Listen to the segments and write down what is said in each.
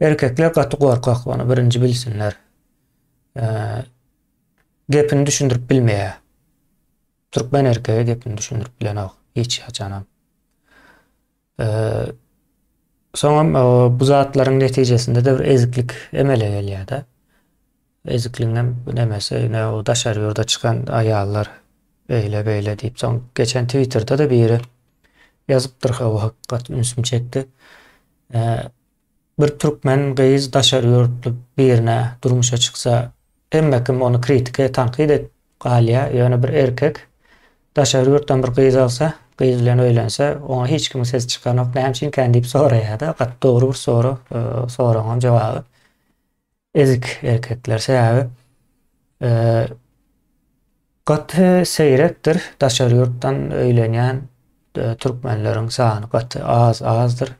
Erkekler gaty gorkak ony birinji bilsinler. Gepini düşündirip bilmeýä. Türkmen erkegi gepini düşündirip bilenok hiç haçanam. Soňam bu zatlaryň netijesinde de bir eziklik emele gelýär-de. Ezikligiň hem nemesi, ine o daşary ýurda çykan aýallar beýle beýle diýip, soň geçen Twitterda da biri ýazypdyr o hakykat ünsümi çekdi. Bir türkmen gyz daşary ýurtly birine durmuşa çyksa hemme kim ony kritike tankyt edip galýa ýöne bir erkek daşary ýurtdan bir gyz alsa gyz bilen öýlense oňa hiç kimiň sesi çykanok näme üçinkän diýip soraýada gaty dogry bir sorag soragyňam jogaby. Ezik erkekler sebäbi gaty seýrekdir daşary ýurtdan öýlenýän türkmenleriň sany gaty az azdyr.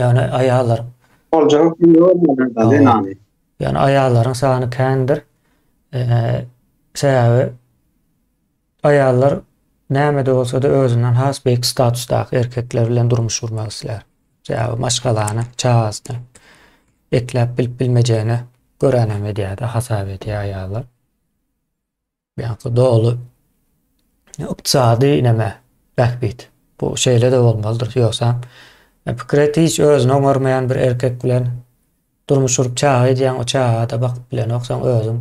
Ýagny aýallar Boljagy kim görmedi da zenany. Ýagny aýallaryň sany kändir. Sebäbi Aýallar näme-de bolsa-da özünden has beýik statusdaky erkekler bilen durmuş gurmak islär. Sebäbi maşgalany, çagasyny ekläp bilip-bilmejegine göränem edýär-de, hasap edýär aýallar. Ýa-da doly ykdysady neme, bähbit. Bu şeýle-de bolmalydyr. Ýogsa, pikir et, hiç özüni oňarmaýan bir erkek bilen durmuş gurup çaga edýäň, o çaga-da bakyp bilenoksaň özüň.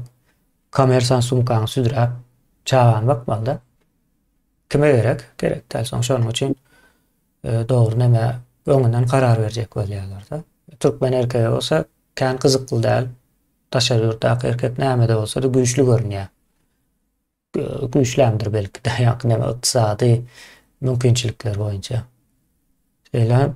Kommersan sumkaňy südräp, çagany bakmalyda. Kime gerek? Gerek däl. Soň şonuň üçin dogry näme öňünden karar berjek bolýarlar-da. Türkmen erkegi bolsa kän gyzykly däl. Daşary ýurtdaky erkek näme-de bolsa-da güýçli görünýär. Güýçlämdir belki-de, ýa-da näme ykdysady mümkinçilikler boýunça. Şeýle hem